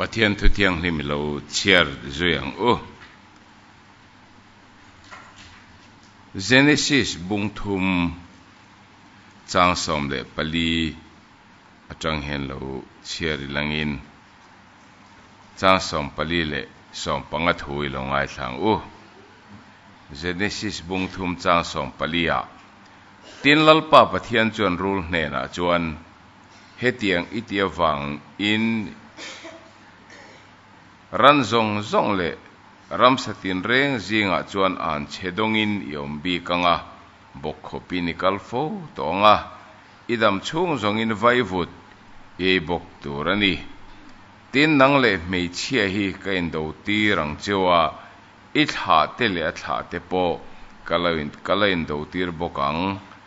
Pathian Thu Thianghlim i lo chhiar zui ang u. Genesis bungthum chang sawm leh pali atang hian lo chhiar i langin chang sawm pali leh sawm panga thu i lo ngaithla ang u. Genesis bungthum chang sawm pali ah Tin Lalpa Pathian chuan rul hnenah chuan Hetiang i ti avang in ran zawng zawng leh ramsa tinreng zingah chuan an che dawng in i awm bik ang a, bawkkhawp in i kal fo tawh ang a, i dam chhung zawng in vaivut i ei bawk tur a ni. Tin, nang leh hmeichhia hi ka indo tir ang cheu a, i thlah te leh a thlah te pawh ka lo ka la indo tir bawk ang.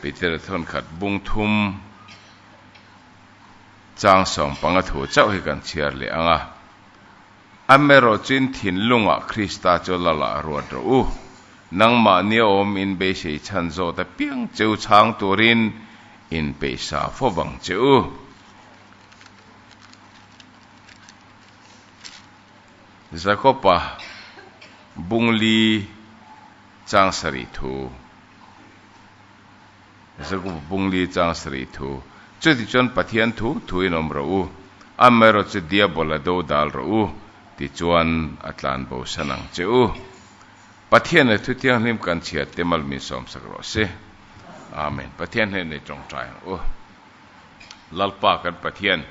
Peter thawnkhat bung thum changsawm panga thu chauh hi kan chhiar leh ang a, Amerawh chin thinlungah Krista chu la lah ruat rawh u, nangmah nia awm in beisei chhan zawt apiang cheu chhang turin in peih sa fo vang che u. Jakopa bungli chang sarih thu. Jakopa bungli chang sarih thu. Chuti chuan Pathian thu thuin awm rawh u, amaherawh chu Diabol a do dal rawh u, tichuan a tlan bo san ang che u. Pathian leh Thu Thianghlim kan chhiat te mal min sawmsak rawh se. Amen. Pathian hnenah i tawngtai ang u. Lalpa kan Pathian.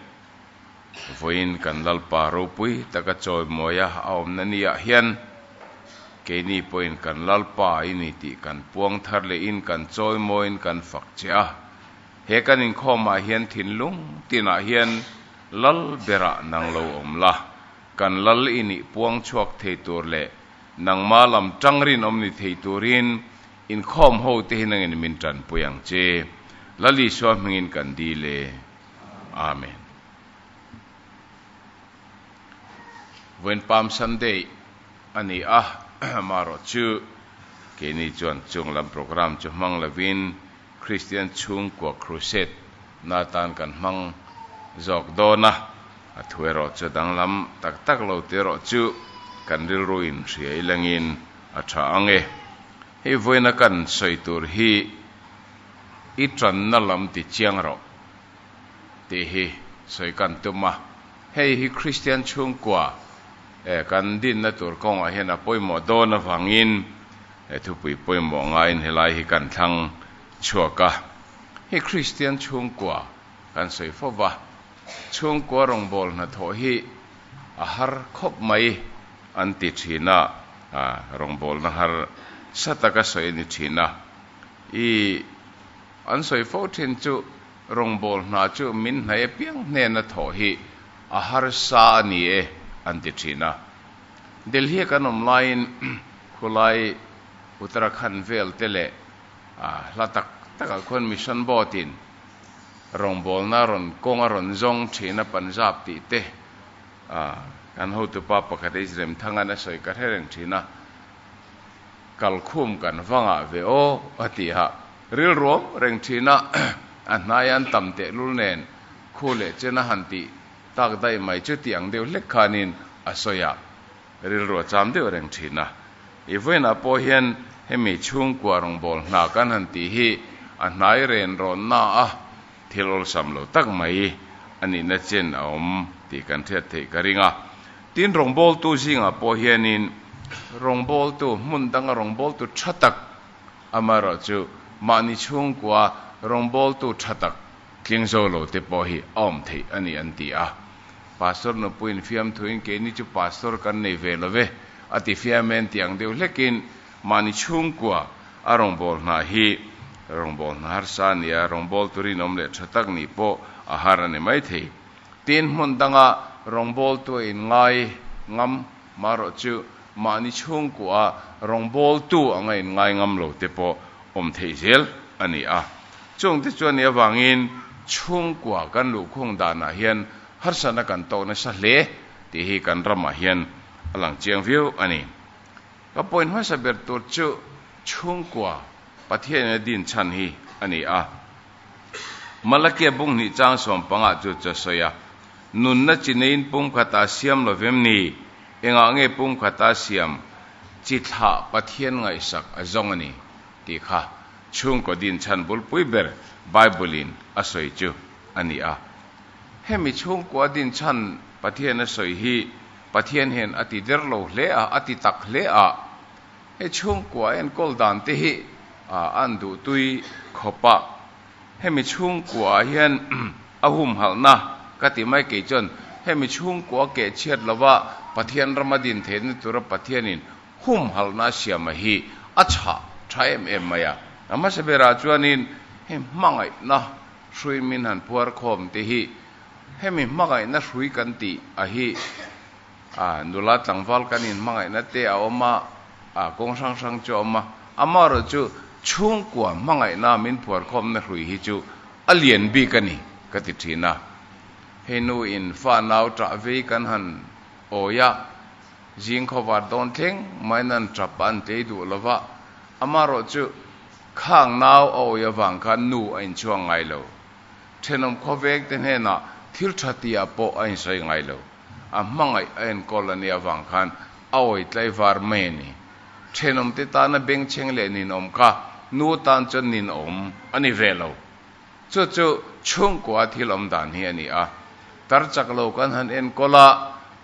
vawiin kan Lalpa ropui taka chawimawiha a awmna niah hian keini pawhin kan Lalpa i ni tih kan puang thar leh in kan chawimawiin kan fak che a. He kan inkhawmah hian thinlung tinah hian Lal berah nang lo awm la, kan Lal i nih puang chhuak thei tur leh nangma lam tang rinawm ni thei turin inkhawm ho te hi nangin min tanpui ang che. Lal Isua hmingin kan dil e. Amen Vawiin Palm Sunday a ni a, amaherawh chu keini chuan chung lam programme chu hmang lovin Kristian chhungkua Crusade na tan kan hmang zawk dawn a, a thu erawh chu danglam tak tak lo te erawh chu kan rilru in hria i lengin a tha ang e. Hei vawiina kan sawi tur hi i tanna lam ti chiang rawh tih hi sawi kan tum a, hei hi Kristian chhungkua kan dinna tur kawngah hian a pawimawh dawn avangin thupui pawimawh ngaiin helai hi kan thlang chhuak a, hei Kristian chhungkua kan sawi fo va. Chhungkua rawngbâwl hnathawh hi a har khawp mai an ti ṭhîn a, rawngbâwlna har sa tak a sawi a ni ṭhîn a. I an sawi fo ṭhîn chu rawngbâwl hna chu min hnai apiang hnêna thawh hi a har sa a ni e an ti ṭhîn a. Delhi-a kan awm laiin khulai Uttarakhand vêlte leh hla tak takah khuan mission bâwtin, rawngbawlna a rawn kawng a rawn zawng thin a Punjab tih te a kan hotu pa pakhat hi Remthang an a sawi ka hre reng thin a kalkhum kan va ngah ve aw a ti a rilruam reng thin a a hnaia an tam tehlul nen khu leh chen a han tih tak daih mai chuti ang deuh hlek khanin a sawi a. Rilru a cham deuh reng thin a. I vawiinah pawh hian hemi chhungkua rawngbâwl hna kan han tih hi a hnai renrawnna a thil awlsam lo tak mai a nihna chen a awm tih kan hriat theih ka ring a. Tin, rawngbâwltu zingah pawh hianin rawngbâwltu, hmun danga rawngbâwltu ṭha tak amaherawhchu mahni chhungkua rawngbâwltu ṭha tak Tling zo lo te pawh hi a awm theih a ni an ti a. Pastor nupuiin fiamthuin keini chu pastor kan nei ve lo ve a tifiam e an ti ang deuh hlekin mahni chhungkua a rawngbâwl hna hi rawngbâwl hna harsa a ni a, rawngbâwl tur inawm leh tha tak nih pawh a har a ni maithei. Tin hmun danga rawngbâwl tua in ngai ngam mah rawh chu. Mahni chhungkuaah rawngbawltu anga inngai ngam lo te pawh awm thei zel a ni a. Chungte chu a nih avangin chhungkua kan luhkhung danah hian harsatna kan tawh nasa hle tih hi kan ramah hian a lang chiang viau a ni. Ka point hmasa ber tur chu chhungkua Pathianin a din chhan hi a ni a. Malakia bung hnih chang sawm panga chu chaw sawi a, Nunna chi neiin pum khat a siam lo vem ni? Engah nge pum khat a siam? Chi thlah Pathian ngaihsak a zawng a ni tih kha chhungkaw din chhanbul pui ber Bible-in a sawi chu a ni a. Hemi chhungkaw a din chhan Pathian a sawi hi Pathian hian a ti der lo hle a, a ti tak hle a. Hei chhungkua hian kawl dan te hi a an duhtui khawp a, hemi chhungkua ah hian a humhalhna ka ti mai kei chuan hemi chhungkua keh chhiat lova Pathian rama din thei na tura Pathianin humhalhna siama hi a chhah tha em em mai a, mahse berah chuanin hei hmangaihna hruimin han phuarkhawm te hi hemi hmangaihna hrui kan tih a hi. A nula tlangval kan inhmangaihna te a awm a, a kawng hrang hrang chu a awm a. Amaherawh chu chhungkua hmangaihna min phuarkhawmna hrui hi chu a lian bik a ni ka ti thin a. Hei nu in fa nau ṭah vei kan han awi a, zing khawvar dawn thleng mai nan ṭap a an tlei duh lo va, amaherawh chu khang nau a awi avang khan nu a inchuang ngai lo. Ṭhenawm khawveng te hnenah thil ṭha ti ah pawh a insawi ngai lo. A hmangaih a enkawl la nih avang khan a awi tlai var mai a ni. Thenawmte tana bengchheng leh ninawm kha nu tan chuan ninawm a ni ve lo. Chu chu chhungkua thil awm dan hi a ni a. Tarchak lo kan han enkawl a,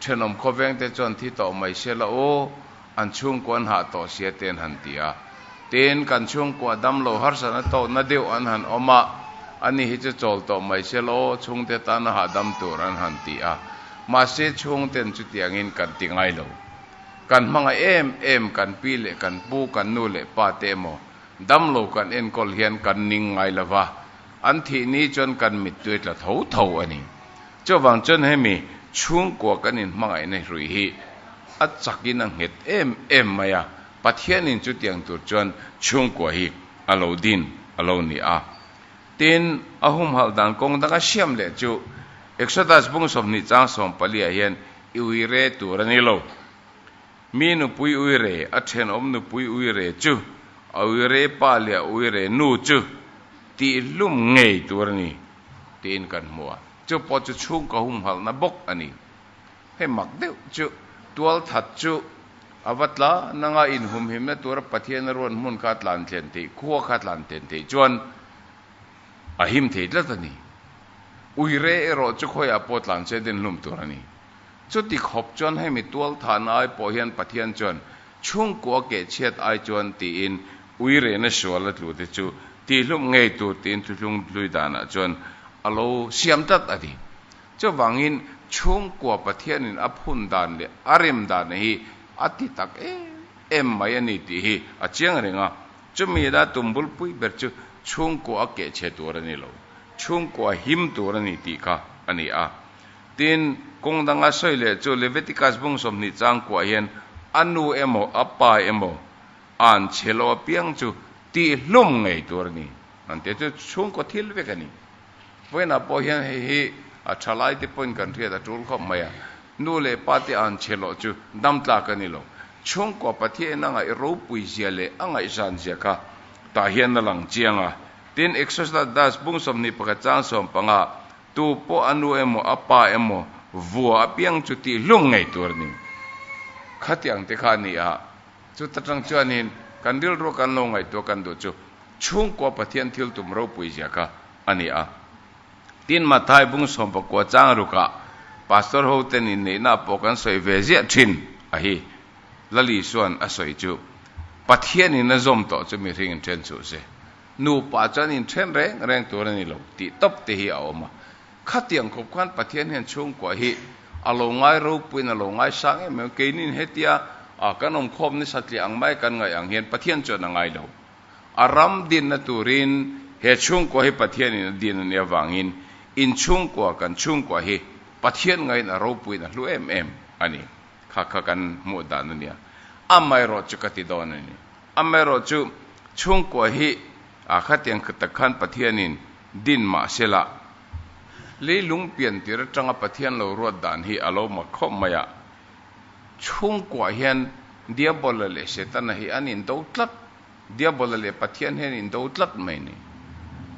thenawm khawvengte chuan thi tawh mai se la u, An chhungkua an hah tawh sia ten han ti a, tin kan chhungkua dam lo harsatna tawh na deuh an han awm a, ani hi chu chawl tawh mai se lo, chhungte tan a hahdam tur an han ti a, mahse chhungten chutiangin kan ti ngai lo. Kan hmanga em em kan pi leh kan pu, kan nu leh pa te emaw dam lo kan enkawl hian kan ning ngai lova, an thih ni chuan kan mittuai tla tho tho a ni. Chuvang chuan hemi chhungkua kan inhmangaihna hlui hi a chakin a nghet em em mai a, Pathianin chutiang tur chuan chhungkua hi a lo din a lo ni a. Tin, a humhalh dan kawng danga siam leh chu Exodus bung sawmhnih chang sawmpaliah hian i ui reh tur a ni lo. Mi nupui uire, a thenawm nupui uire chu, a uire pa leh a uire nu chu tih hlum ngei tur a ni tiin kan hmu a, chu pawh chu chhungkaw humhalhna bawk a ni. Hei mak deuh chu tualthat chu a va tla nang a, inhumhimna tura Pathian a ruan hmun kha a tlan thlen theih, khua kha a tlan thlen theih chuan a him thei tlat a ni. Uire erawh chu khawiah pawh tlan che dinhlum tur a ni. Chuti khawp chuan hemi tualthan ai pawh hian Pathian chuan chhungkua keh chhiat ai chuan tiin ui rehna suala tlute chu tihlum ngei tur tiin thuhlung hlui danah chuan a lo siam tlat a ni. Chuvangin chhungkua Pathianin a phun dan leh a rem dan hi a ti tak em em mai a ni tih hi a chiang reng a. Chumi ila tumbulpui ber chu chhungkua a keh chhe tur a ni lo, chhungkua him tur a ni tih kha a ni a. Tin, kawng danga sawi leh chu Levitikas bung sawmhnih chang kuah hian a nu emaw a pa emaw a'n chhe lo apiang chu tih hlum ngei tur a ni. An tih chu chhungkaw thil vek a ni. Vawiinah pawh hian hei hi a tha laite pawhin kan hriat a tul khawp mai a, nu leh pa te a'n chhe loh chu damtlak a ni lo. Chhungkaw Pathianin a ngaih ropui zia leh a ngaih zan zia kha tah hian a lang chiang a. Tin, Exodas bung sawmhnih pakhat chang sawm panga, Tu pawh a nu emaw a pa emaw vua a piang chu tih hlung ngei tur a ni. Khatiang te kha a ni a, chuta tang chuanin kan rilru kan lo ngaihtuah kan duh chu chhungkua Pathian thil tum ropui zia kha a ni a. Tin, Matthai bung sawm pakua chang rukah Pastor ho ten inneihna pawh kan sawi ve ziah thin a hi. Lali chuan a sawi chu, Pathian in a zawm tawh chu mihring in then suh se. Nupa chuan inthen reng reng tur a ni lo tih tawp te hi a awm a, khatiang khawp khan Pathian hian chhungkua hi a lo ngai ropuiin a lo ngai sang em em. Keinin hetia a kan awmkhawm nisa tliah ang mai kan ngaih ang hian Pathian chuan a ngai lo. A ram dinna turin he chhungkua hi Pathianin a din a nih avangin inchhungkua kan chhungkua hi Pathian ngaiin a ropuiin a hlu em em a ni kha kha kan hmuh dan a nia. Amaherawhchu ka ti dawn a ni. Amaherawh chu, chhungkua hi a khatiang khat tak khan Pathianin din mah sela, leilung piantir atanga Pathian lo ruat dan hi a lo mak khawp mai a. Chhungkua hian Diabola leh Setana hi an indo tlat, Diabola leh Pathian hi an indo tlat mai ni.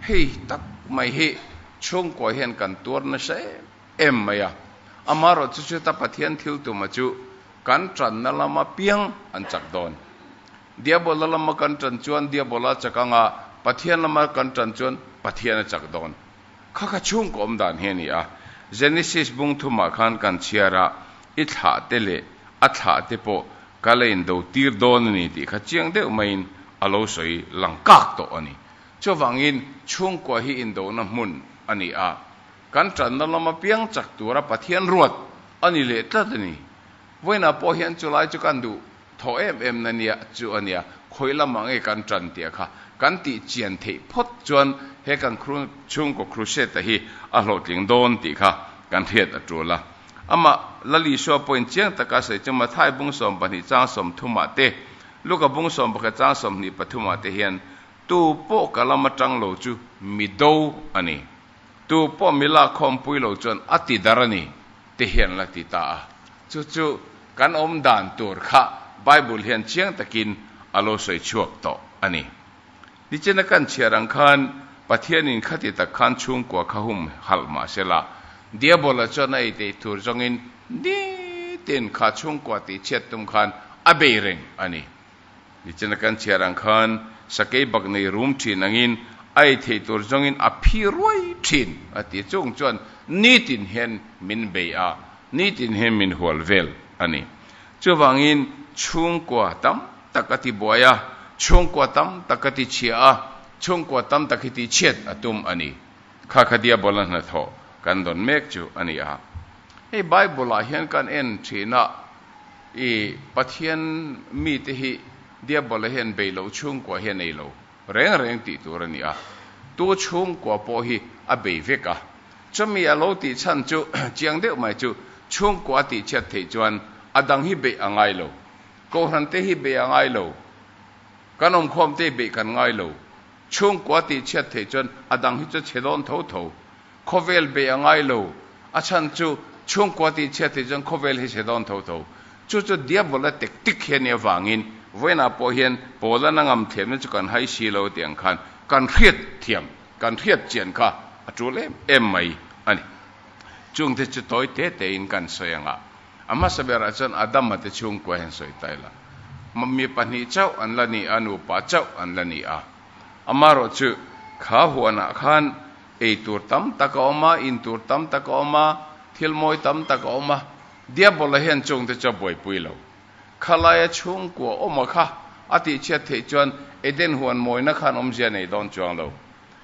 Hei tak mai hi chhungkua hian kan tuar nasa em. Em mai a, amaherawh chu Cheta Pathian thil tuma chu kan tanna lama piang an chak dawn. Diabola lama kan tan chuan Diabola chak anga, Pathian lama kan tan chuan Pathian a chak dawn. Kha kha chhungkaw awm dan hi a ni a. Genesis bung thumah khan kan chhiar a, i thlah te leh a thlah te pawh ka la indo tir dawn a ni tih kha chiang deuh maiin a lo sawi lang kak tawh a ni. Chuvangin chhungkaw hi indona hmun a ni a. Kan ṭanna lam apiang chak tura Pathian ruat a ni leh tlat a ni. Vawiinah pawh hian chulai chu kan duh thaw em em na nia chu a nia. Khawi lamah nge kan ṭan tih a kha kan tih chian theih phawt chuan he kan chhungkaw crusade-a hi a hlawhtling dawn tih kha kan hriat a ṭul a. Amah Lalisua point chiang taka sawi chu Matthai bung sawm pahnih chang sawm thumah te, Luka bung sawm pakhat chang sawmhnih pathumah te hian tu pawh ka lam aṭang lo chu mi do a ni. Tu pawh mi lak khawm pui lo chuan a ti dar a ni, ti hian la ti ta a. Chu chu kan awm dan tur kha Bible hian chiang takin a lo sawi chhuak tawh a ni. Nichin a kan chhiar ang khan Pathianin khati tak khan chhungkua kha hum halh mah se la, Diabol-a chuan a eitei tur zawngin nitin kha chhungkua tih chhiat tum khan a bei reng a ni. Nichana kan chhiar ang khan sakei bak nei rum thin angin a ei theih tur zawngin a phi ruai thin a ti chung chuan nitin hian min bei a, nitin hian min hual vel a ni. Chuvangin chhungkua tam tak a ti buai a, chhungkua tam tak ka ti chhia a, chhungkua tam tak hi tih chhiat a tum a ni. Khakha Diabol-a hnathawh kan dawn mek chu a ni a. Hei Bible-ah hian kan en thin a, I Pathian mite hi Diabol-a hian bei lo chhungkua hi a nei lo reng reng tih tur a ni a, tu chhungkua pawh hi a bei vek a. Chumi a lo tih chhan chu chiang deuh mai chu chhungkua a tihchhiat theih chuan a dang hi beih a ngai lo, Kohhrante hi beih a ngai lo, kan awmkhawmte hi beih kan ngai lo, chhungkua a tihchhiat theih chuan a dang hi chu chhe dawn tho tho. Khawvel bei a ngai lo. A chhan chu chhungkua tih chhiat theih chuan khawvel hi se dawn tho tho. Chu chu Diabol a tek tik hian i avangin vawiinah pawh hian Paulana ngam thlemna chu kan hai si lo tih ang khan kan hriatthiam, kan hriatchian kha a tul em em mai a ni. Chung te chu tawi te te in kan sawi ang a, a hmasa berah chuan Adama te chhungkua hian sawi ta ila mi pahnih chauh an la ni a, nupa chauh an la ni a. Amaherawhchu, kha huanah khan Ei tur tam tak a awm a, in tur tam tak a awm a, thil mawi tam tak a awm a, Diabol-a hian chungte chu a buaipui lo. Khalaia chhungkua awma kha a tihchhiat theih chuan Eden huan mawina khan awmzia nei dawn chuang lo.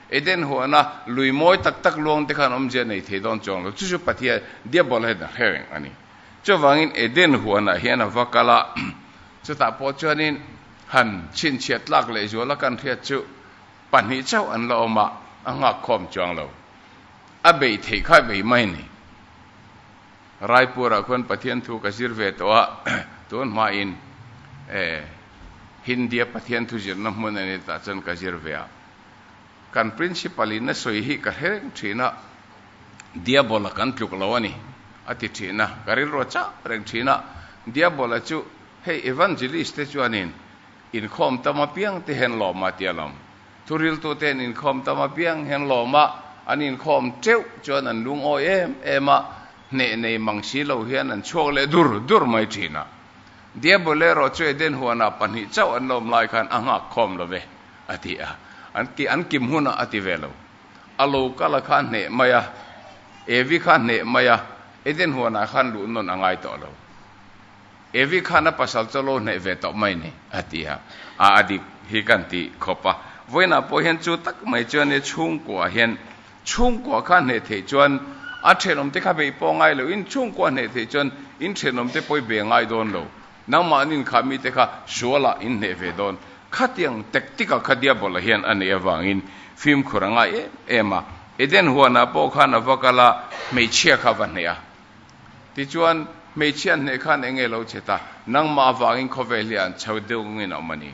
Eden huana lui mawi tak tak luangte khan awmzia nei thei dawn chuang lo. Chu chu Pathian, Diabol-a hian a hre reng a ni. Chuvangin Eden huanah hian a va kal a, chutah pawh chuanin han chhinchhiat tlak lehzuala kan hriat chu, Pahnih chauh an la awmah a nghakkhawm chuang lo. A beih theih kha beih mai ni. Raipurah khuan Pathian thu ka zir ve tawh a, tun hmain Hindia Pathian thu zirna hmun a ni tah chuan ka zir ve a. Kan Principal in a sawi hi ka hrireng thin a, Diabol a kan tluk lo a ni a ti thin a, ka rilru a chak reng thin a. Diabol a chu hei Evangelist te chuanin, Inkhawm tam apiang te hen lawm a tia lawm. Thuriltu ten inkhawm tam apiang hen lawm a, an inkhawm teuh chuan an lungawi em em a, hneh nei mang si lo hian an chhuak leh dur dur mai thin a. Diabul erawh chu Eden huanah pahnih chauh an lawm lai khan a nghak khawm lo ve a ti a, an ki an kim hunah a ti ve lo. A lo kal a kha hneh mai a, Evi kha hneh mai a, Eden huanah khan luh nawn a ngai tawh lo. Evi khan a pasal chu a lo hnaih ve tawh mai ni? a ti a. A, a dik hi ka han tih khawp a. Vawiinah pawh hian chu tak mai chuan i chhungkuah hian chhungkuah kha hneh theih chuan a thenawm te kha bei pawh ngai loin chhungkuah hneh theih chuan in thenawm te pawh i be ngai dawn lo. Nangmah an inkhah mite kha sualah in hneh ve dawn. Khatiang tak tikah kha Diabol-a hian a neih avangin fimkhur a ngai em em a. Eden huanah pawh khan a va kal a, hmeichhia kha va hneh a. Tichuan, hmeichhia an hneh khan eng nge lo che ta? Nangmah avangin khawvel hi an chho deuh ngawngin a awm a ni.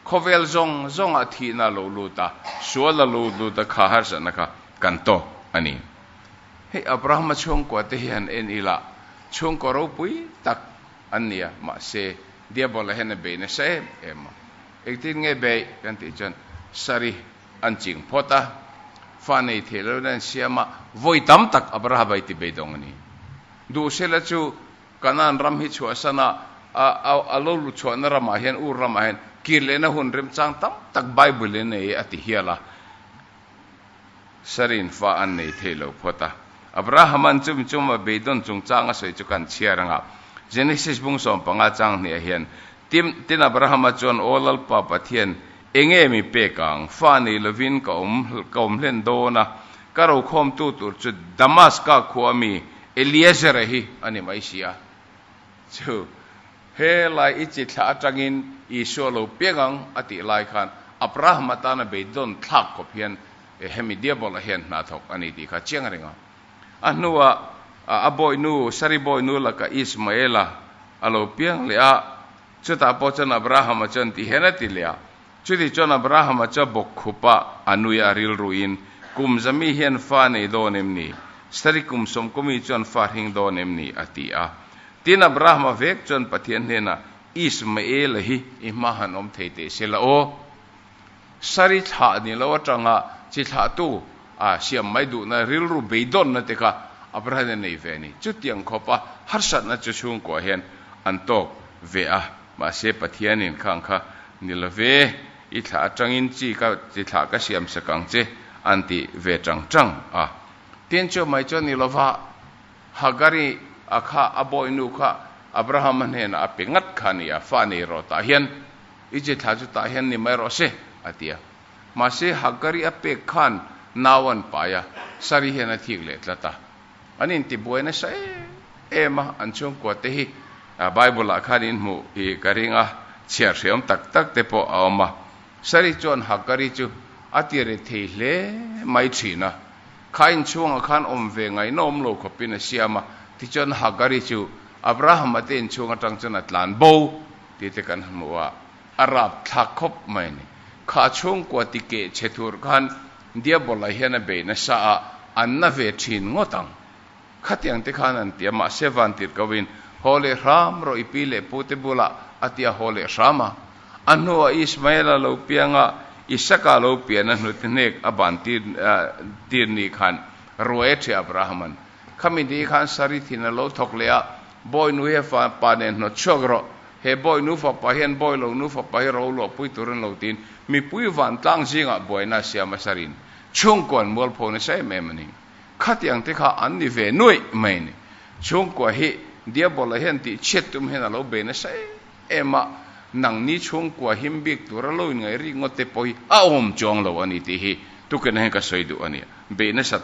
Khawvel zawng zawngah thihna lo lut a, sual a lo lut a kha harsatna kha kan tawk a ni. Hei Abrahama chhungkuate hi han en ila chhungkaw ropui tak an ni a, mahse, Diabol-a hian a beina sa em em a. Engtin nge bei? kan tih chuan, Sarih. an ching phawt a, fa nei theih loin an siam a, vawi tam tak a bara bai ti beidawng a ni. Duh sela chu Kanan ram hi chhuah sana a lo lut chhuahna ramah hian, Ur ramah hian, kir lehna hun remchang tam tak Bible in ei a ti hial a, Sari in fa an nei theih lo phawt a. Abraham an chum chum a beidawn chung chang a sawi chu kan chhiar ang a, Genesis bung sawm panga chang hnih ah hian, Tin Abraham a chuan aw lalpa Pathian Enge mi pek ang? Fa nei lovin ka awm ka awm hlen dawn a, ka rokhawmtu tur chu Damaska khua a mi Eliezera hi a ni mai si a. Chu helai i chi thlah atangin Isua lo pek ang a tih lai khan Abraham atana beitdawn thlak khawp hian hemi Diabol-a hian hna thawk a ni tih kha a chiang reng a. A hnuah a bawihnu, saribawihnu laka Ismaela a lo piang leh a. Chutah pawh chuan Abrahama chuan tihian a ti leh a, Chuti chuan Abrahama chuan bawk khupa a nui a rilruin, Kum zami hian fa a nei dawn em ni? Sari kum sawmkawmi chuan fa a hring dawn em ni? a ti a. Tin, Abrahama vek chuan Pathian hnenah, Ismaela hi i hmaah han awm thei teh se la aw. Saree thlah ni lo atanga chi thlahtu a siam mai duhna rilru beidawnna teka a parin a nei ve a ni. Chutiang khawpa harsatna chu chhungkua hian an tawk ve a, mahse Pathianin kha ang kha ni lo ve, i thlah atangin chi ka chi thlah ka siam sak ang che an ti ve chang chang a. Tin chu mai chu ni lo va, Hagari a kha a bawinu kha Abrahama hnenah a pe ngat kha a ni a, fa nei rawtah hian. I che thla chutah hian ni mai rawh se, a ti a. Mahse, Hagari a pek khan nau an pai a, Sari hian a thik leh tlat a. An intibuai nasa em em a, an chhungkua te hi Bible-ah khan in hmuh i ka ring a, chhiar hreawm tak tak te pawh a awm a. Sari chuan Hagari chu a tire thei hle mai thin a, kha inchhungah khan awm ve ngai nawm lo khawpin a siam a, tichuan Hagari chu Abraham a te inchhung atang chuan a tlan bo Tite kan hmu a, a rap thlak khawp mai a ni. Kha a chhungkua ti keh che tur khan Diabol-a hian a bei nasa a, a na ve thin ngawt ang. Khatiang te khan an ti a, mahse van tirh koin, Haw leh hram rawh i pi leh pute bula, a ti a haw leh hram a. A hnuah Ismael-a lo piang a, Isaac-a lo piahna hnute hnek a ban tir tir ni khan ruai a ṭhi a Abraham-an. Khami dih khan saree thin a lo thawk leh a, Bawi nu he fapa nen hnawt chhuak rawh, he bawi nu fapa hian bawi lo nu fapa hi ro luah pui tur an lo tiin mipui vantlang zingah buaina a siam a sareen chhungkua mualpho nasa em em a ni. Khatiang te kha an ni ve nuaih mai a ni. Chhungkua hi Diabola hian tihchhiat tum hian a lo bei nasa em a, nangni chhungkua him bik tur a lo inngaih rih ngawt te pawh hi a awm chuang lo a ni tih hi tuken a hian ka sawi duh a ni. Bei nasat.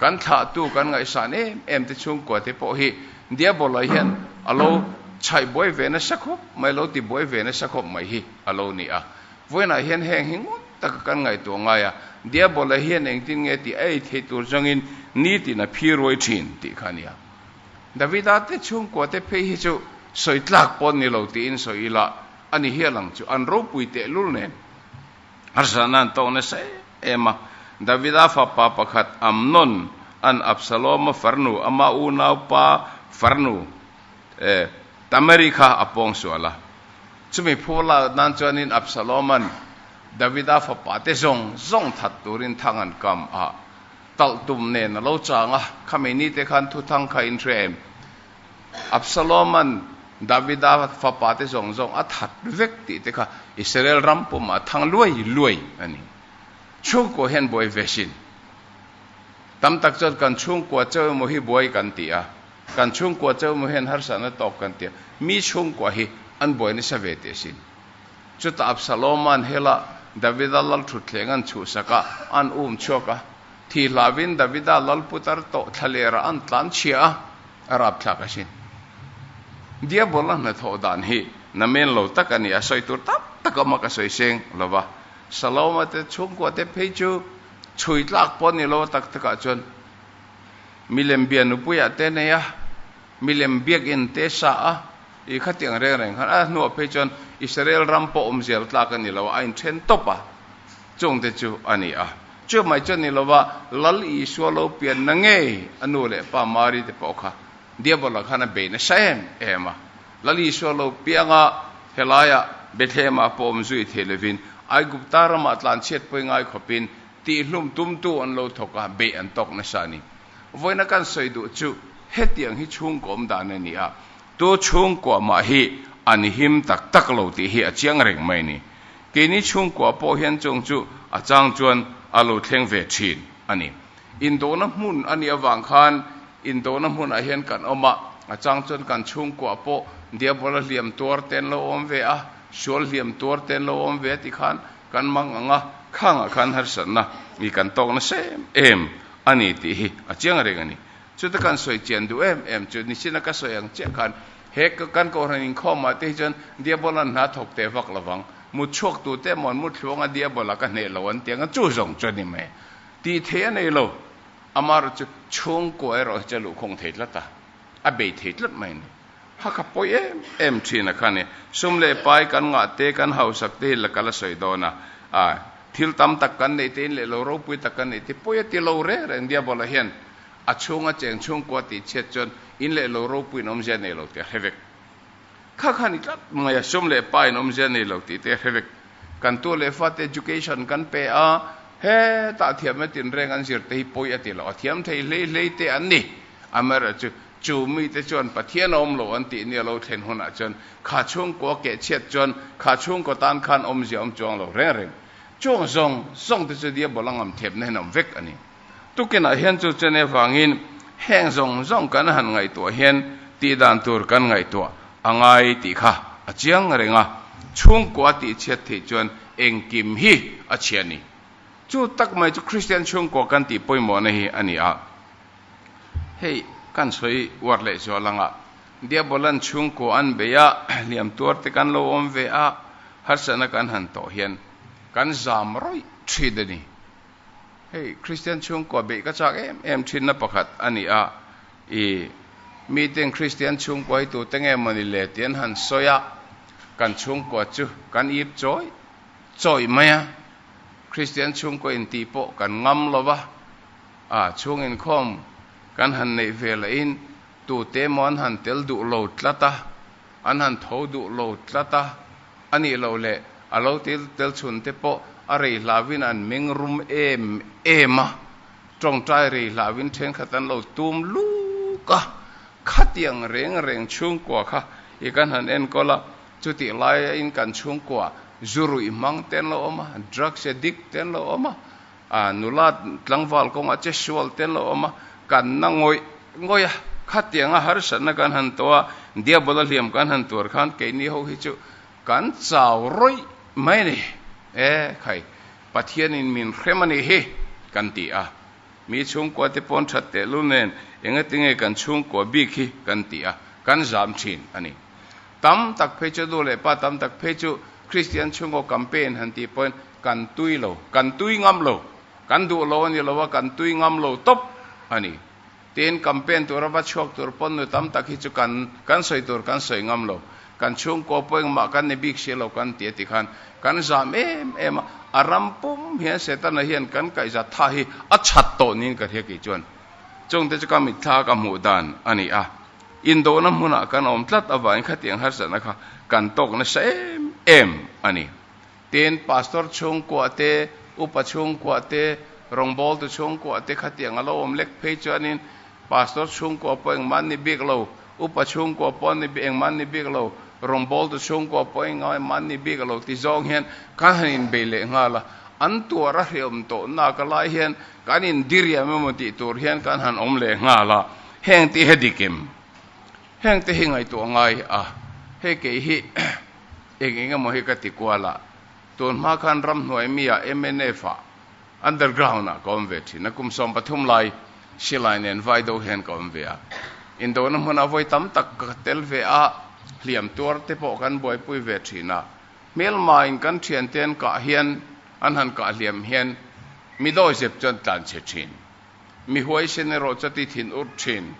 Kan thlahtu kan ngaihsan em em te chhungkua te pawh hi Diabolai hian a lo chhaih buai ve nasa khawp mai, a lo ti buai ve nasa khawp mai hi a lo ni a. Vawiinah hian heng hi ngawt taka kan ngaihtuah ngai a, Diabolai hian engtin nge tih a ei thei tur zangin nitin a phiruai thin tih kha a ni a. Davida te chhungkua te phei hi chu sawi tlak paw'n ni lo tiin sawi ila, a ni hial ang chu an ropui tehlul nen Harsatna an tawk nasa em a. Davida fapa pakhat Amnon an Absaloma farnu, amah unaupa farnu Tamari kha a pawng sual a. Chumi phu lak nan chuanin Absaloma'n Davida fapate zawng zawng that turin thang an kam a. Talh tum nen a lo chang a, khami nite khan thuthang kha in hria em? Absaloma'n Davida fapa te zawng zawng a that vek tih te kha Israel ram pumah a thang luai luai a ni. Chhungkua hian buai ve sin. Tam tak chuan kan chhungkua cheu emaw hi buai kan ti a, kan chhungkua cheu emaw hian harsatna tawk kan ti a. Mi chhungkua hi an buai nasa ve teh sin. Chuta Absaloma'n hela Davida lal thutthlengha'n chhuhsak ah an um chhuak a, thi hlauin Davida lal putar tawh thlalera an tlanchhia a, a rapthlak a sin. Diabol-a hnathawh dan hi na men lo tak a ni a, sawi tur tak tak awm a ka sawi seng lo va. Saloma te chhungkua te phei chu chhui tlak pawh a ni lo a, tak tak ah chuan milem bianupuiah te nei a, Milem biakinn te sa a, i khatiang reng reng khan a hnuah phei chuan Israel ram pawh awm zel tlak a ni lo a, a inthen tawp a, chung te chu a ni a. Chu mai chu a ni lova, Lal i Isua lo pian na ngei, a nu leh pa Mary te pawh kha Diabola khan a bei nasa em em a. Lal i Isua lo pianga helaia Bethlehemah pawh awm zui theih lovin, Aigupta ramah tlanchhiat pawi ngai khawpin, tihhlum tumtu an lo thawk a, beih an tawk nasa a ni. Vawiina kan sawi duh chu hetiang hi chhungkawm dan a ni a, tu chhungkua mah hi a ni him tak tak lo tih hi a chiang reng mai ni. Keini chhungkua pawh hian chawng chu a chang chuan a lo thleng ve thin a ni. Indawhna hmun a nih avang khan indawhna hmunah hian kan awm a, a chang chuan kan chhungkua pawh Diabol-a hliam tuar ten lo awm ve a, sual hliam tuar ten lo awm ve a ti khan Kan mang ang a, khangah khan harsatna i kan tawk nasa em em a ni tih hi a chiang reng a ni. Chuta kan sawi chian duh em em chu nichina ka sawi ang chiah khan he kan kohhran inkhawma te hi chuan Diabola hna thawk teh vak lovang, mutchhuaktu te emaw an mutthlunga Diabola ka hneh lo an ti ang a, chu zawng chu a ni mai a tih theih a nei lo. Amarawhchu chhungkua erawh hi chu a luhkhawng thei tlat a. A bei thei tlat mai a ni. Ha ka pawi em em thin a kha ni. Sum leh pai kan ngah te, kan hausak te hi la kal a sawi dawn a. Aah, thil tam tak kan nei te in leh lo, ropui tak kan nei te pawi a ti lo reng reng. Diabala hian a chhunga cheng chhungkua tih chhiat chuan in leh lo, ropuiin awmzia nei lo tih a hre vek. Kha kha ni tlat mai a, sum leh pa in awm zia nei lo tih te a hre vek. Kan tu leh fa te education kan pe a, hetah thiam na tinreng an zir te hi pawi a ti lo a, thiam thei hlei hlei te an ni. Amaherawh chu, chu mi te chuan Pathian a awm lo an tih nia lo thlen hunah chuan, kha chhungkaw a keh chhiat chuan, kha chhungkaw tan khan awmzia awm chuang lo reng reng. Chung zawng zawng te chu Diabol a ngamthep nahin a awm vek a ni. Tukinah hian chu chene vangin heng zawng zawng kan han ngaihtuah hian tih dan tur kan ngaihtuah a ngai tih kha a chiang reng a, chhungkua a tihchhiat theih chuan engkim hi a chhia ni? Chu tak mai chu Kristian chhungkua kan tih pawimawhna hi a ni a. Hei kan sawi uar leh zual ang a, Diabola'n chhungkua an bei a, hliam tuar te kan lo awm ve a, harsatna kan han tawh hian kan zam rawih ṭhit a ni. Hei Kristian chhungkua beih ka chak em em thinna pakhat a ni a, i miten Kristian chhungkuai tur te nge mawni le ti an han sawi a, kan chhungkua chu kan ip chawi chawi mai a, Kristian chhungkua in tih pawh kan ngam lo va, a chhung inkhawm kan han neih ve loh in tute emaw an han tel duh lo tlat a. An han tho duh lo tlat a, a nih loh leh a lo tel tel chhun te pawh a rei hlau in an meng rum em em a, tawngtai rei hlau in thenkhat an lo tum luk a, khatiang reng reng chhungkua kha i kan han enkawl a, chutih lai in kan chhungkua zu ruih hmang te an lo awm a, drugs addict te an lo awm a, A nula tlangval kawnga che sual tel a awm a, kanna ngawih ngawih a, khatianga harsatna kan han tawh a, Diabol-a hliam kan han tuar khan keini ho hi chu kan chau rawih mai a ni. E khai, Pathianin min hrem a nih hi, kan ti a. Mi chhungkua te paw'n that tehlul nen engati nge kan chhungkua bik hi, kan ti a, kan zam thin a ni. Tam tak phei chu, nu leh pa tam tak phei chu Kristian chhungkaw campaign han tih pawhin, Kan tui lo, kan tui ngam lo, kan duh lo a ni lo a, kan tui ngam lo tawp a ni. Tiin campaign tura va chhuak tur pawn nu tam tak hi chu kan kan sawi tur kan sawi ngam lo. Kan chhungkaw pawh engmah kan ni bik si lo kan ti a ti khan kan zam em em a. A ram pum hian Setana hian kan kaihza tha hi a chhat tawh niin ka hria kei chuan chungte chu ka mitthla a ka hmuh dan a ni a. Indona hmunah kan awm tlat avangin khatiang harzatna kha kan tawk nasa em em a ni. Tin, Pastor chhungkuah te, Upa chhungkuah te, rawngbawltu chhungkuah te kha tiang a lo awm lek phei chuanin Pastor chhungkuah pawh engmah an ni bik lo, Upa chhungkuah pawh an ni engmah an ni bik lo, rawngbawltu chhungkuah pawh engmah engmah an ni bik lo ti zawng hian kan han inbei leh nghal a. An tuar a hreawm tawh nak a lai hian kan indiriam emaw tih tur hian kan han awm leh nghal a. Heng tih hi a dik em? Hengte hi ngaihtuah ngai a, hei kei hi. Eng eng emaw hi ka ti kual a, tun hma khan ram hnuai mi ah mnf ah underground ah ka awm ve thin a, kum sawm pathum lai silai nen vai deuh hian ka awm ve a, indona hmun ah vawi tam tak ka tel ve a, hliam tuar te pawh kan buaipui ve thin a, hmelma in kan thiante'n kah hian an han kah hliam hian mi dawizep chuan tlan chhe thin. Mi huaisen erawh chati thin urh thin.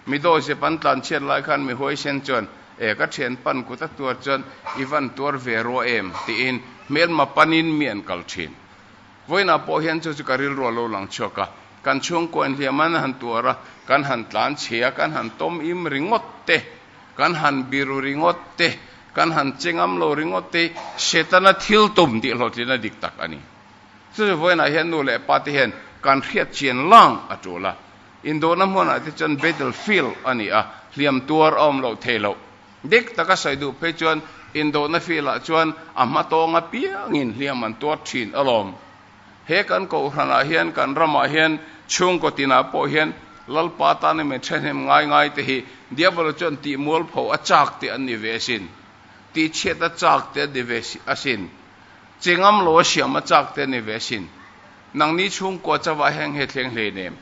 Mi dawihsep an tlan chhiat lai khan mi huaisen chuan, E, ka thian pan kut a tuar chuan i van tuar ve rua em? tiin hmelma panin mi an kal thin. Vawiinah pawh hian chu chu ka rilruah lo lang chhuak a, kan chhungkaw in hliam an han tuar a, kan han tlan che a, kan han tawm im ringawt te, kan han biru ringawt te, kan han che ngam lo ringawt te hi Setana thil tum tihhlawhtlina dik tak a ni. Chu chu vawiinah hian nu leh pa te hian kan hriatchian lang a tul a. Indawhna hmunah te chuan battle field a ni a, hliam tuar a awm loh thei loh. Dik taka sawi duh phei chuan indawhna field ah chuan a hma tawng apiangin hliam an tuar thin alawm. He kan kohhranah hian kan ramah hian chhungkaw tinah pawh hian Lalpa tana min thahnem ngai ngai te hi Diabolo chuan tihmual pho a chak te an ni ve asin. Tihchhiat a chak te an ni ve asin. Chengam law siam a chak te ni ve sin. Nangni chhungkua chauhah hian nge thleng hle in em?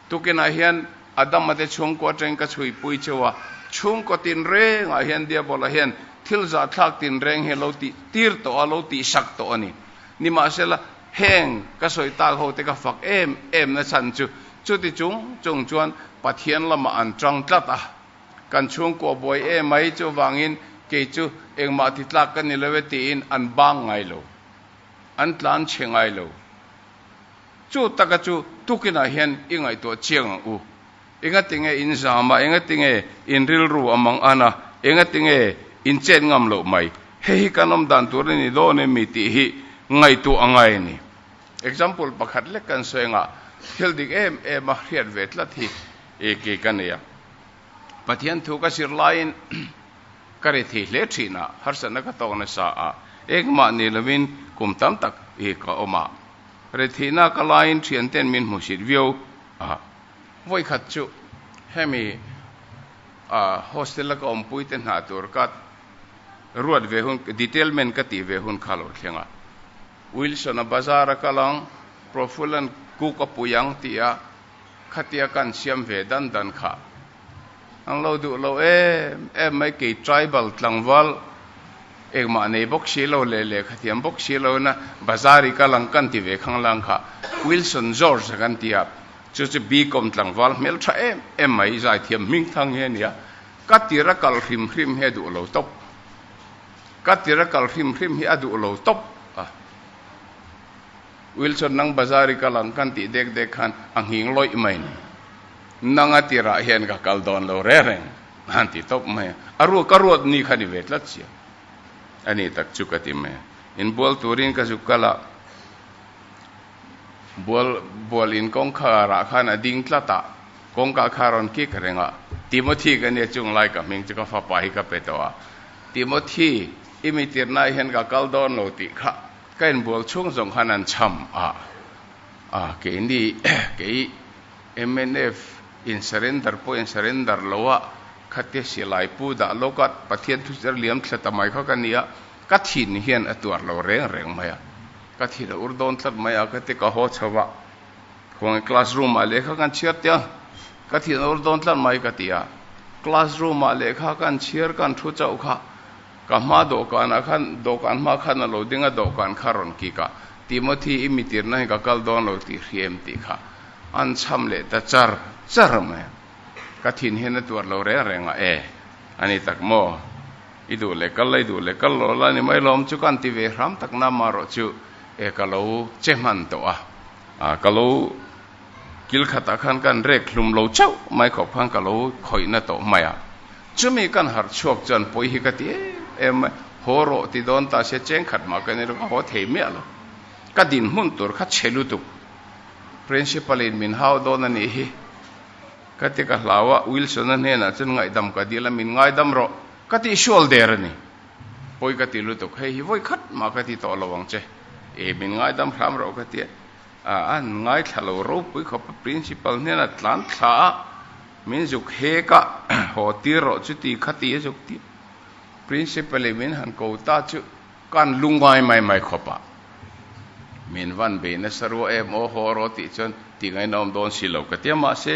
Tukinah hian Adam a te chhungkua atangin ka chhuipui cheu a, chhungkaw tinreng ah hian Diabola hian thil zahthlak tinreng hi a lo ti tir tawh a, a lo ti sak tawh a ni. Nimahsela, heng ka sawi tak ho te ka fak em em nachhan chu, chuti chung chung chuan Pathian lamah an tang tlat a. Kan chhungkaw buai e mai chu avangin kei chu engmah titlak ka ni lo e tiin an bang ngai lo, an tlan che ngai lo. Chu taka chu tukinah hian i ngaihtuah chiang ang u. Engatinge in zam a, engatinge in rilru a mang an a, engatinge in chet ngam loh mai? Hei hi kan awm dan tur a ni dawn em mi tih hi ngaihtuah a ngai a ni. Example pakhat lek kan sawi angah, thil dik em em a hriat ve tlat hi ke ka nei a, Pathian thu ka zir laiin ka ri thei hle thinah harsatna ka tawk nasa a, engmah ni lovin kum tam tak ka awm a, ri theihna ka laiin thianten min hmusit viau a. Vawi khat chu hemi hostel a ka awmpui te hna tur ka ruat ve hun, detailment ka tih ve hun kha a lo thleng a. Wilson a bazar a kal ang, Profulan kuk a pui ang tih a khatia ka an siam ve dan dan kha. An lo duh lo em em mai kei tribal tlangval engmah nei bawk si lo leh lehkhathiam bawk si lo in a bazar i kal ang kan ti ve khang lang kha. Wilson George a kan ti a, chu chu bicom tlangval hmel tha em em mai zaithiam hming thang hi a ni a, ka tir a kal hrim hrim hi a duh lo tawp. Ka tir a kal hrim hrim hi a duh lo tawp a. Wilson nang bazar i kal ang kan tih dek dek khan a nghing lawih mai ni. Nanga tirah hian ka kal dawn lo reng reng a'n ti tawp mai a. A ruat ka ruat ni kha ni ve tlat sia a ni tak chu ka ti mai a. Inbual turin ka zuk kal a. Bual bual in kawngkhar ah khan a ding tlat a, kawngka kha a rawn kik reng a. Timothy ka nia chung lai ka hming chu ka fapa hi ka pe tawh a. Timothy, i mitir nai hian ka kal dawn lo tih kha ka in bual chhung zawng khan an chham a. Ah, kei ni kei MNF in surrender pawh in surrender lo a, khate silai pu dah lawk a, Pathian thuchar liam thla ta mai kha ka nia, ka thin hian a tuar lo reng reng mai a. Ka thil a ur dawn tlat mai a, ka ti ka haw chho a. Khuange class room ah lehkha kan chhiar tia, ka thil a ur dawn tlat mai ka ti a. Class room ah lehkha kan chhiar kan thu chauh kha, ka hma dawhkan ah khan, dawhkan hma khan a lo ding a, dawhkan kha rawn kik a. Timothy i mitir na hi ka kal dawn lo ti hri em tih kha an chham leh ta char char mai a. Ka thinhirna tuar lo reng reng a, ee, a ni tak maw? I duh leh kal la, i duh leh kal law la ni mai lawm chu ka han ti ve hram tak na amarawh chu e ka lo che hman tawh a, ah ka lo kil khatah khan ka han rek hlum lo chauh mai khawp khan ka lo khawihna tawh hmai a, chumi ka han harh chhuak chuan pawi hi ka ti em em mai, haw rawh ti dawn ta sia cheng khat mah ka ni lo ka haw thei miah lo, ka dinhmun tur kha che lutuk Principal in min hau dawn a nih hi. Ka ti ka hlau a, Wilson-a hnenah chuan ngaihdam ka dil a, min ngaidam rawh ka tih hrual der a ni. Pawi ka ti lutuk, hei hi vawi khat mah ka ti tawh lo ang che. Ee, min ngaidam hram rawh ka ti a, an ngaithla lo ropui khawpa Principal hnenah tlan thla a min zuk hek a, haw tir rawh chuti kha ti a zuk ti. Principal-i min han ko ta chu Kan lu ngai mai mai khawp a, min van beih nasa ruah em aw haw raw tih chuan ti ngaina awm dawn si lo ka tia mahse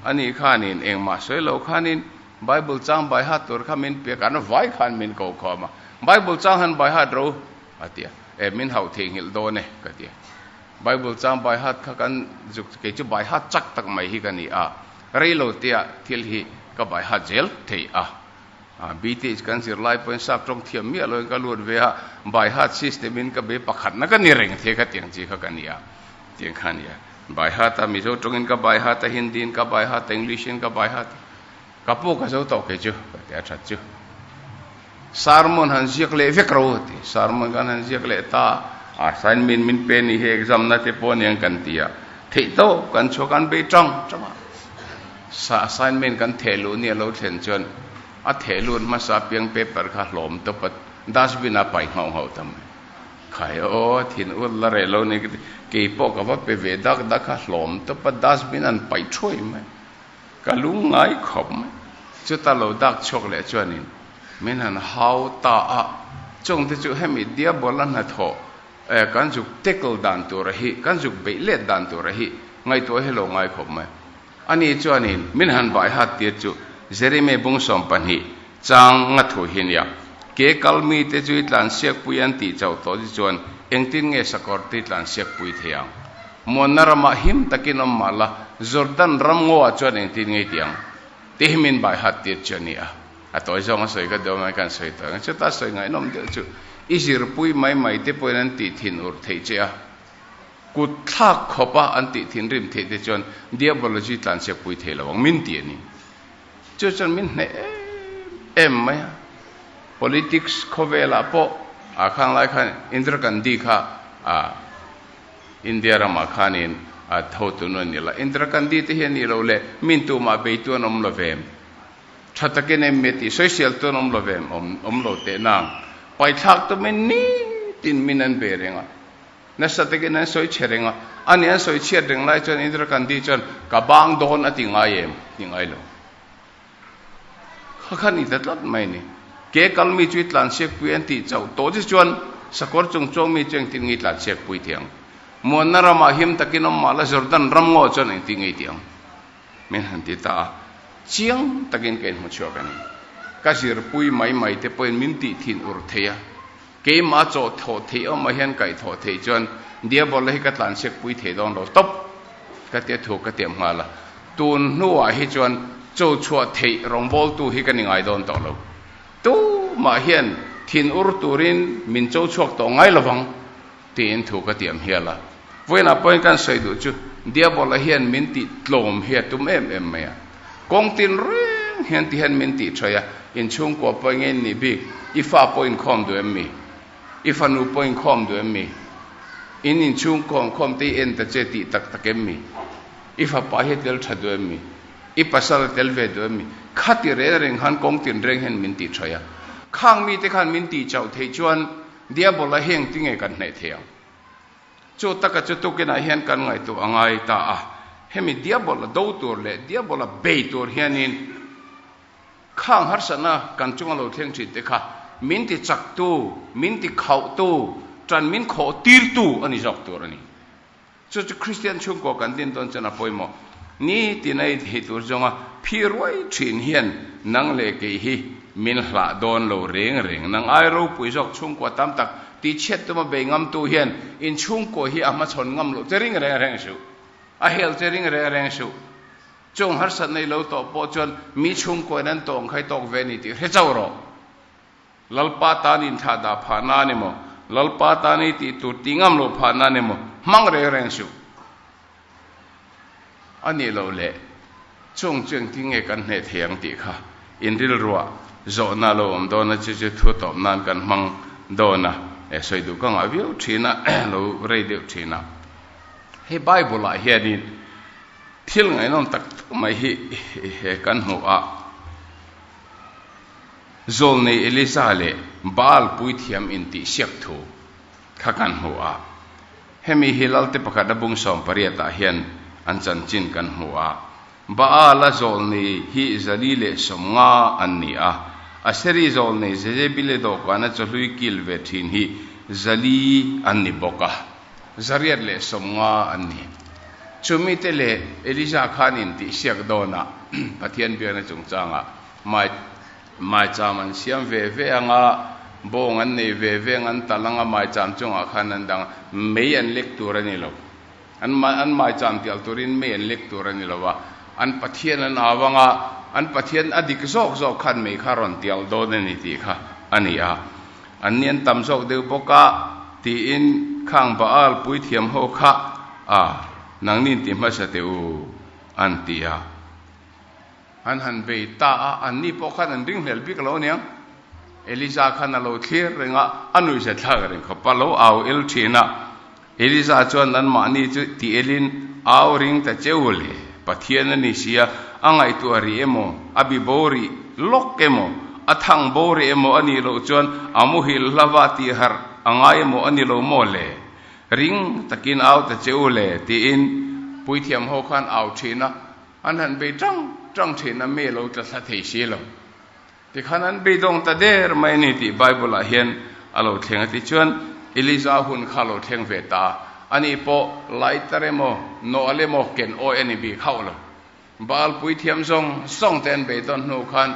ani khanin engmah sawi lo khanin Bible chang baihat tur kha min pek an vai khan min ko khawm a, Bible chang han baihat ro a tia eh min hauh theihnghilh dawn e ka tia Bible chang baihat kha kan zuk kei chu baihat chak tak mai hi ka ni a, rei lo tia thil hi ka baihat zel thei a. Bth kan zirlai pawhin sap tawng thiam miah loin ka lut ve a, by heart system in ka be pakhatna ka ni reng thei khatiang chi kha ka ni a, tiang kha a ni a. By heart a, Mizo tawngin ka by heart a, Hindi in ka by heart a, English in ka by heart a. Ka pu ka zo tawh kei chu, ka ti a that chu. Sermon han ziak leh vek ro a ti. Sermon kan han ziak leh ta a. Assignment min pe ni hi exam na te pawh a ni ang kan ti a, theih tawp kan chhuak an be tang tang a. Sa assignment kan theh luh ni a lo thlen chuan a theh lut hmasa apiang paper kha hlawm tawp a dustbin ah pai nghauh nghauh ta mai. Khai aw thin ur la reh lo ni kei pawh ka va pe ve dak dak a hlawm tawp a dustbin an pai thuai mai. Ka lu ngai khawp mai. Chuta lo dak chhuak leh chuan in min han hau ta a. Chawng te chu hemi diabawl a hnathawh eh kan zuk tackle dan tur a hi kan zuk beih let dan tur a hi ngaihtuah hi a lo ngai khawp mai. Ani chuanin min han baihat tir chu Jeremy Bungsawm pahnih chang nga thu hi nia. Ke kal mite chu i tlansiakpui an tih chauh tawh chu chuan engtin nge sakawrte i tlansiakpui thei ang? Muanna ramah him takin awm mah la Jordan ram ngawah chuan engtin ngei tih ang? Tih hi min baihat tir chu a ni a. A tawi zawng a sawi ka duh mai kan sawi tawi ang. Chuta sawi ngainawm deuh chu i zirpui mai maite pawhin an tih thinur theih che a. Kut thlak khawp a an tih thinrim theih te chuan Diabology tlanchhiak pui thei lo ang min ti a ni. Chu chuan min hnaih em em mai a. Politics khawvelah pawh a khang lai khan Indira Gandhi kha a India ramah khanin a tho tun a ni la. Indira Gandhi te hi a nih loh le, min tumah beitu an awm love em? Tha takin em nge tih sawi sial tu an awm love em? Awm awm lo teh nang. Paithlak tumin nitin min an be reng a. Nasa takin an sawi chhe reng a, a nih an sawi chhiat reng lai chuan Indira Gandhi chuan ka bang dawn a ti ngai em? A ti ngai lo. Kha kha ni ta tlat mai ni. Ke kal mi chu i tlansiakpui an tih chauh tawh che chuan sakawr chung chuang mi chu engtin nge i tlansiakpui thei ang? Muanna ramah him takin awm mah la Jordan ram ngaw chuan engtin nge i tih ang? Min han ti ta a, chiang takin ka inhmu chhuak a ni. Ka zirpui mai mai te pawhin min tihthin ur thei a. Keimah chawh thawh theih awm ah hian kaih thawh theih chuan Diabol hi ka tlan siak pui thei dawn lo tawp ka ti a thu ka tiam nghal a, tun hnuah hi chuan chaw chhuah theih rawngbawl tu hi ka ni ngai dawn tawh lo. Tumah hian thin ur turin min chaw chhuak tawh ngai lovang. Tiin thu ka tiamhial a. Vawiinah pawhin kan sawi duh chu, Diabola hian min tih tlawm hi a tum em em mai a. Kawng tin reng hian ti hian min tih thawi a, In chhungkua pawh enge in nih bik? I fa pawh inkhawm duh emmi? I fanu pawh inkhawm duh emmi? In inchhungkaw an khawm te hi en ta che tih tak tak emmi? I fapa hi a tel tha duh emmi? I pasal a tel ve duh emmi? Kha ti reng reng khan kawng tin reng hian min tih thawi a. Khang mite khan min tih chauh theih chuan, Diabola hi engtin nge kan hnaih theih ang? Chu taka chu tukinah hian kan ngaihtuah a ngai ta a, hemi Diabola do tur leh Diabola bei tur hianin khang harsatna kan chunga lo thleng thin te kha min ti chaktu, min ti khauhtu, ṭan min khawhtirtu a ni zawk tur a ni. Chu chu Kristian chhungkaw kan din dawn chuan a pawimawh ni tiin a inhei tur zawng a, Phi ruai thin hian nang leh kei hi min hlah dawn lo reng reng, nang ai ropui zawk chhungkaw tam tak tihchhiat tuma bei ngamtu hian inchhungkaw hi a hmachhawn ngam loh che ring reng reng suh, a hel che ring reng reng suh, chung harsatna i lo tawh pawh chuan mi chhungkawiin an tawng khai tawk ve a ni tih hre chauh rawh. Lalpa tan inthlah dah phah nan emaw, Lalpa tan i tih tur ti ngam lo phah nan emaw hmang reng reng suh a nih loh le. Chung chu engtin nge kan hneh thei ang tih kha in rilruah zawhna lo awm dawn a che chu thu tawp nan kan hmang dawn a sawi duh ka ngah viau thin a lo rei deuh thin a. He Bible ah hianin thil ngaihnawm tak tak mai hi kan hmu a. Zawl nei Eliza leh Baal puithiam intihsiak thu kha kan hmuh a, hemi hi lalte pakhat a bung sawm pariatah hian an chanchin kan hmu a. Baal-a zawl nei hi zali leh sawmnga an ni a. Aseri zawl nei Jezebile dawhkana chawhlui kil ve thin hi zali an ni bawk a, zariat leh sawmnga an ni. Chumite leh Eliza khan intihsiak dawnah Pathian biakna chungchangah Might, Mai cham an siam ve ve ang a, bawng an nei ve ve ang, an tal ang a, mai cham chungah khan an dang a, mei an lek tur a ni lo. An mai an mai cham tial turin mei an lek tur a ni lo a, an Pathian an au ang a, an Pathian a dik zawk zawk khan mei kha a rawn tial dawn a ni tih kha a ni a, an ni an tam zawk deuh bawk a, tiin khang Baal puithiam ho kha a, nangni intih hmasa teh u, an ti a. An han bei ta a, anni pawh khan an ring hlel bik lo nia. Eliza khan a lo thlir reng a, a nuih zet thlak reng khawp a lo au el thin a. Eliza chuan nanmahni chu ti elin, Au ring ta che u le, Pathian a ni sia, a ngaihtuah a rih emaw, a bi bo rih lawk emaw, a thang bo rih emaw a nih loh chuan a muhil hlava tih harh a ngai emaw a ni lo maw le, ring takin au ta che u le, tiin Puithiam ho khan au thin a. An han bei ṭang ṭang ṭhehna mi a lo tla thla thei si lo. Tikhan an bei dawng ta der mai a ni tih Bible ah hian a lo thleng a. Tichuan, Elijah hun kha a lo thleng ve ta a. Ani pawh Laiter emaw, Noel emaw ken awi a ni bik hauh lo. Baal puithiam zawng zawng te an bei dawn hnu khan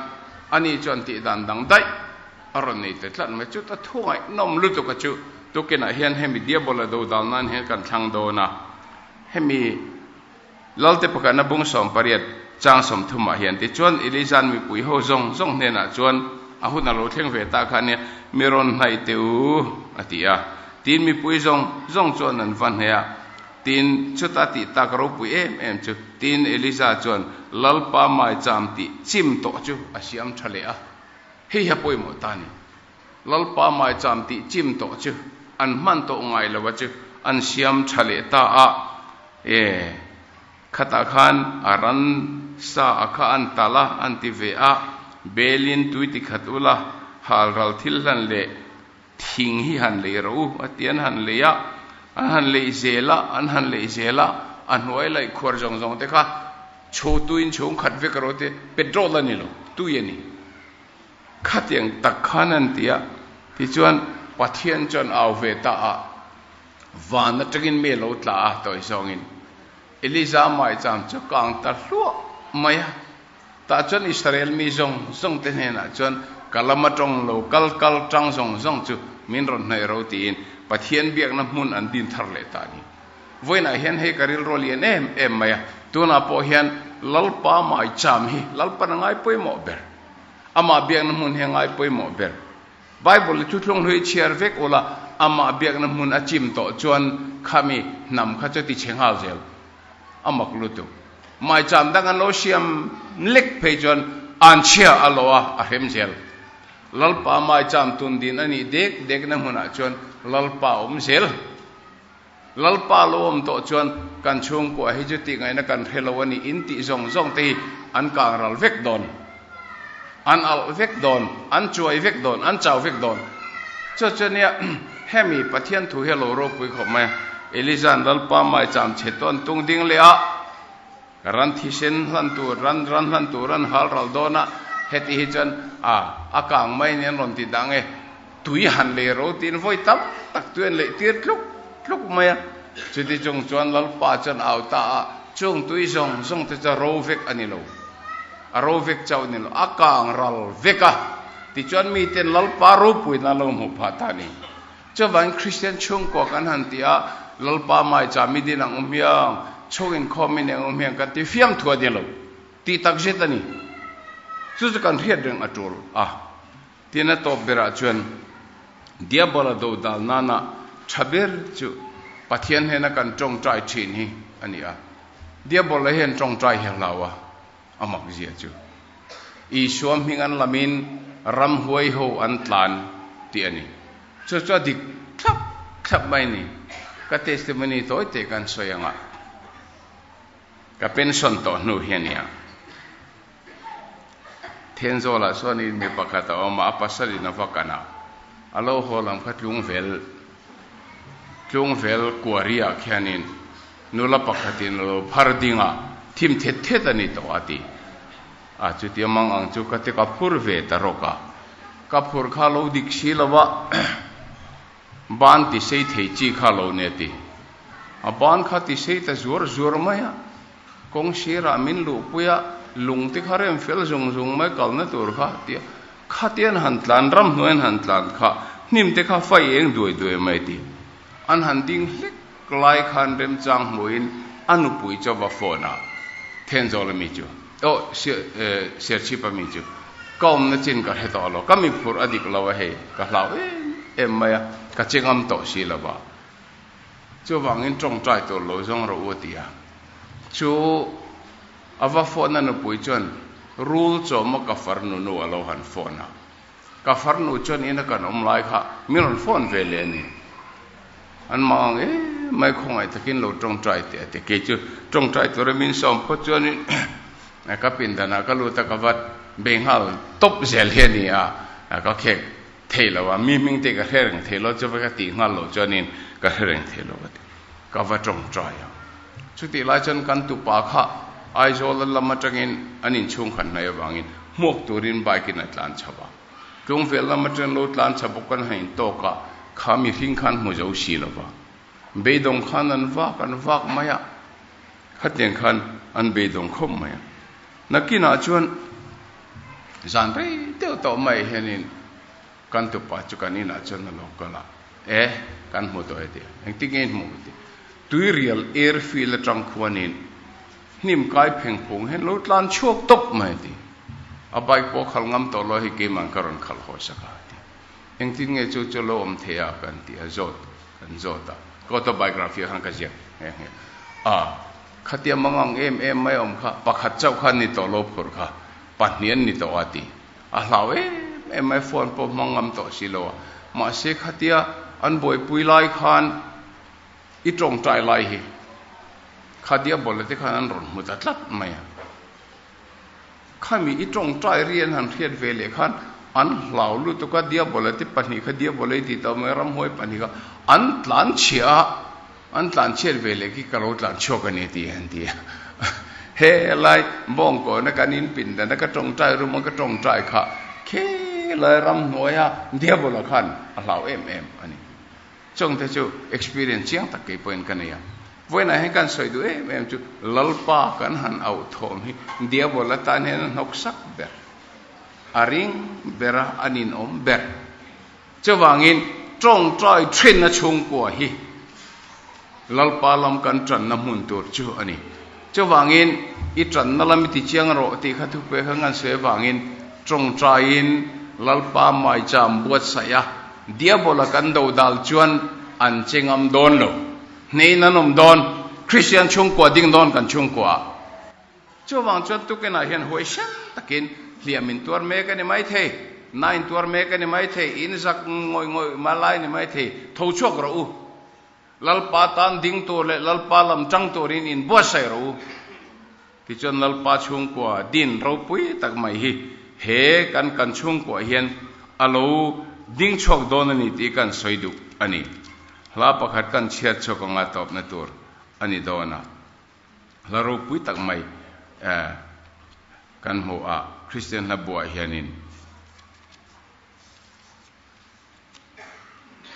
ani chuan tih dan dang daih a rawn nei ta tlat mai. Chuta thungainawm lutuka chu tukinah hian hemi Diabol-a dodal nan hian kan thlang dawn a. Hemi. Lalte pakhatna bung sawm pariat chang sawmthum ah hian ti chuan Ilizan mipui ho zawng zawng hnenah chuan a hun a lo thleng ve ta kha ania, mi rawn hnaih teh u a ti a. Tin mipui zawng zawng chuan an va hnaih a. Tin chuta tih ta ka ropui em em chu. Tin Eliza chuan, Lalpa mai cham tih chim tawh chu a siam tha leh a, hei a pawimawh ta ni. Lalpa Maicham tih chim tawh chu, an hman tawh ngai lova chu an siam tha leh ta a, e, khatah khan a ran sa a kha an tal a, an ti ve a, Belin tui ti khat ula, halral thil hlan leh thing hi han lei ro u, a ti an han lei a, an han lei zel a, an han lei zel a, a hnuai laih khuar zawng zawng te kha chho tuin chhungkhat vek ro te petrol a ni lo, tui a ni. Khatiang tak khan an ti a, tichuan Pathian chuan au ve ta a, van atangin mi a lo tla a tawi zawngin. Eliza mah chang chu kang ta hluah mai a, tah chuan Israel mi zawng zawng te hnenah chuan ka lam atawng lo kal kal tang zawng zawng chu min rawn hnaih ro tiin Pathian biakna hmun an din thar leh ta ni. Vawiinah hian hei ka rilru a lian em em mai a, tunah pawh hian Lalpa mah cham hi Lalpan a ngai pawimawh ber. Amah biakna hmun he ngaipawimawh ber. Bible i thutlung hlui chhiar vek ula amah biakna hmun a chim tawh chuan khami hnam kha chu ti che nghal zel a mak lut u. Mai chan dang an lo siam lek phei chuan an chhia a lo a, a hrem zel. Lalpa mai chan tun din a nih dek dekna hmunah chuan Lalpa awm zel. Lalpa lo awm tawh chuan kan chhungkua hi chu tihngaihna kan hre lo a ni in tih zawng zawng te hi an kangral vek dawn, an alh vek dawn, an chuai vek dawn, an chau vek dawn. Chu chu nia hemi Pathian thu hi lo ropui khawp mai a, Eliza'n Lalpa maicham che tawn tung ding leh a, ran thisen hlan tur, ran ran hlan tur an hal ral dawn a, heti hi chuan a a kang mai nen rawn ti dah nge? Tui han lei ro tiin vawi tam tak tui an lei tir tluk tluk mai a. Chuti chung chuan Lalpa chuan au ta a, Chung tui zawng zawng te chu ro vek a ni lo, a ro vek chauh a ni lo, a kang ral vek a. Tichuan miten Lalpa ropuiin an lo hmuh phah ta ni? Chuvangin Kristian chhungkua kan han ti a, Lalpa mai cha mi din ang um hiang, chhung inkhaw mi nen um hiang kan ti fiam thu a ni lo. Tih tak zet a ni. Chu chu kan hriat reng a tul a. Tin a tawp berah chuan Diabola dodal nana tha ber chu Pathian hnena kan tawngtai thin hi a ni a. Diabola hian tawngtai hia hlau a, a mak zia chu. Isua hming an lamin ram huai ho an tlan tih a ni. Chu chu a dik thlap thlap mai ni. Ka testimony tawi teh kan sawi angah ka pension tawh hnu hi a ni a. Thenzawlah chuanin mi pakhat a awm a, a pasalin a va kan a, a lo haw lam kha tlungvel, tlungvel kuariah khianin nula pakhatin a lo phar ding a, thim thet thet a ni tawh a ti a, chutia mang ang chu ka ti ka phur ve ta rawk a, ka phur kha lo dik si lo a, ban tisei thei chi kha lo nia ti, a ban kha tisei ta zuar zuar mai a. Kawng sirah min luhpui a, lung te kha rem fel zung zung mai kalna tur kha a ti a, khatian han tlan ram hnuaiin han tlan kha hnim te kha fai eng duai duai mai a ti. An han ding hlek lai khan remchang hmuhin a nupui chauva phone ah Thenzawl ami chu oh Serchhip ami chu ka awmna chin ka hre tawh lo, ka miphurh a dik lo a hei, ka hlau em em mai a, ka che ngam tawh si lova. Chuvangin tawngtai tur lo zawng rawh u a ti a. Chu a va phone a nupui chuan Rul chawma ka farnu nu a lo han phone a, ka farnu chuan ina kan awm lai kha min rawn phone ve leh a ni. An mang ang e mai khawngaih takin lo tawngtai teh a ti. Kei chu tawngtai tura min sawm phawt chuanin ka pindanah ka lut a ka va bei nghal tawp zel hi a ni a, ka khek. theih lo a, mi hming te ka hre reng theih lo chu veka tih nghal loh chuanin ka hre reng theih lo ka ti, ka va tawng try a. Chutih lai chuan kan tupa kha Aizawla lam atangin an inchhung khat hnai avangin hmuak turin bike-in a tlan chho a, tlung vel lam atangin lo tlan chho bawk kan han intawk a, kha mihring khan hmu zo si lo va, beidawng khan an vak an vak mai a. Khatiang khan an beidawng khawp mai a. Nakinah chuan zan rei deuh tawh mai hianin kan tupa chu kan inah chuan a lo kal a, E, kan hmu tawh e tih. Engtin nge in hmu? a ti. Tuirial air field atang khuanin hnim kai pheng phung hian lo tlan chhuak tawp mai a ti. A bike pawh a khal ngam tawh lo a, hei keimah an ka rawn khalh haw sak a, a ti. Engtin nge chu Chawlawm thei a kan tih a zawt kan zawt a, ka autobiography khan ka ziak nghe nghe a, khatiang mangang em em mai awm kha pakhat chauh kha ni tawh lo phur kha pahnih an ni tawh a ti a hlau em em mai phone pawh hmang ngam tawh si lo a mahse khatia an buaipui lai khan i tawngtai lai hi khadia bawlh leh te khan an rawn hmu ta tlat mai a. Khami i tawngtai rian han hriat ve leh khan an hlau lutuk a, Diabola te pahnih kha Diabola i tih tawh mai a, ramhuai pahnih kha an tlanchhia a, an tlanchhiat ve leh khi ka lo tlanchhuak a ni tih an ti a. Helai bawngkawnah kan inpindan a, ka tawngtai rum a, ka tawngtai kha khelai ramhnuaia Diabola khan a hlau em em a ni. Chawngte chu experience chiang tak kei pawhin ka nei a, vawiinah hian kan sawi duh em em chu Lalpa kan han auh thawm hi Diabol a tan hian a hnawk sak ber, a ring ber a, an inawm ber. Chuvangin Tawngtai thin a chhungkua hi. Lalpa lam kan tanna hmun tur chu a ni. Chuvangin, I tanna lam i tichiang rawh tih kha thupe kha ngan suai avangin, tawngtaiin Lalpa maicham buatsaih a, Diabola kan dodal chuan an che ngam dawn lo. Hnein an awm dawn, Kristian chhungkua ding dawn kan chhungkua a. Chuvang chuan tukinah hian huai hrem takin, Hliam in tuar mek a ni maithei, na in tuar mek a ni maithei, in zak ngawih ngawih hma lai a ni maithei, tho chhuak rawh u. Lalpa tan ding tur leh Lalpa lam chang turin in buatsaih ro u. Tichuan Lalpa chhungkua din ropui tak mai hi he kan kan chhungkuah hian a lo ding chhuak dawn a ni tih kan sawi duh a ni. Hla pakhat kan chhiat chhuak a ngaihtuapna tur a ni dawn a. Hla ropui tak mai kan hmuh a Kristian hla buaah hian in.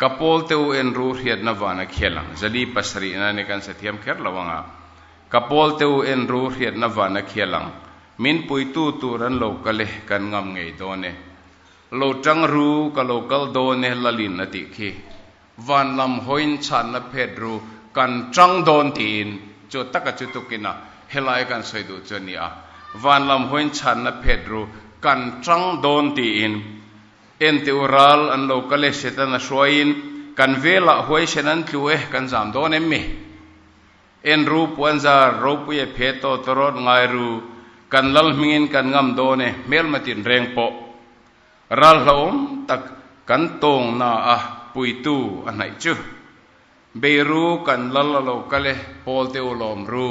Ka pawl te u en ru hriatna van a khial ang, Zali pasarihna nen kan sa thiam kher lo ang a. Ka pawl te u en ru hriatna van a khial ang, min puitu tur an lo kal e, kan ngam ngei dawn e. Lo tang ru, ka lo kal dawn e, Lalin a tih khi. Van lam hawiin chhanna phet ru, kan tang dawn tiin chu taka chu tuk ina helai kan sawi duh chu a ni a, Van lam hawiin chhanna phet ru, kan tang dawn tiin. En teh u ral an lo kal e Setana hruaiin, Kan velah huaisen an tlu e, kan zam dawn em mi? En ru puanzar, ropui e phe tawh tawh rawh, ngai ru, kan lal hmingin kan ngam dawn e, hmelmatin reng pawh ral hlauhawm tak kan tawngnaah puitu a hnaih chu. Bei ru kan lal a lo kal e, Paul te u lawm ru,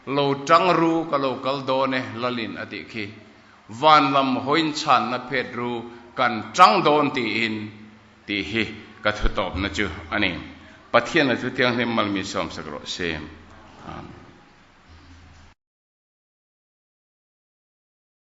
lo tang ru ka lo kal dawn e lal in a tih khi. Van lam hawiin chhan na phet ru kan tang dawn tiin tih hi ka thu tawp na chu a ni. Pathian a thu thianghlim mal mi sawm sak rawh se. Amen.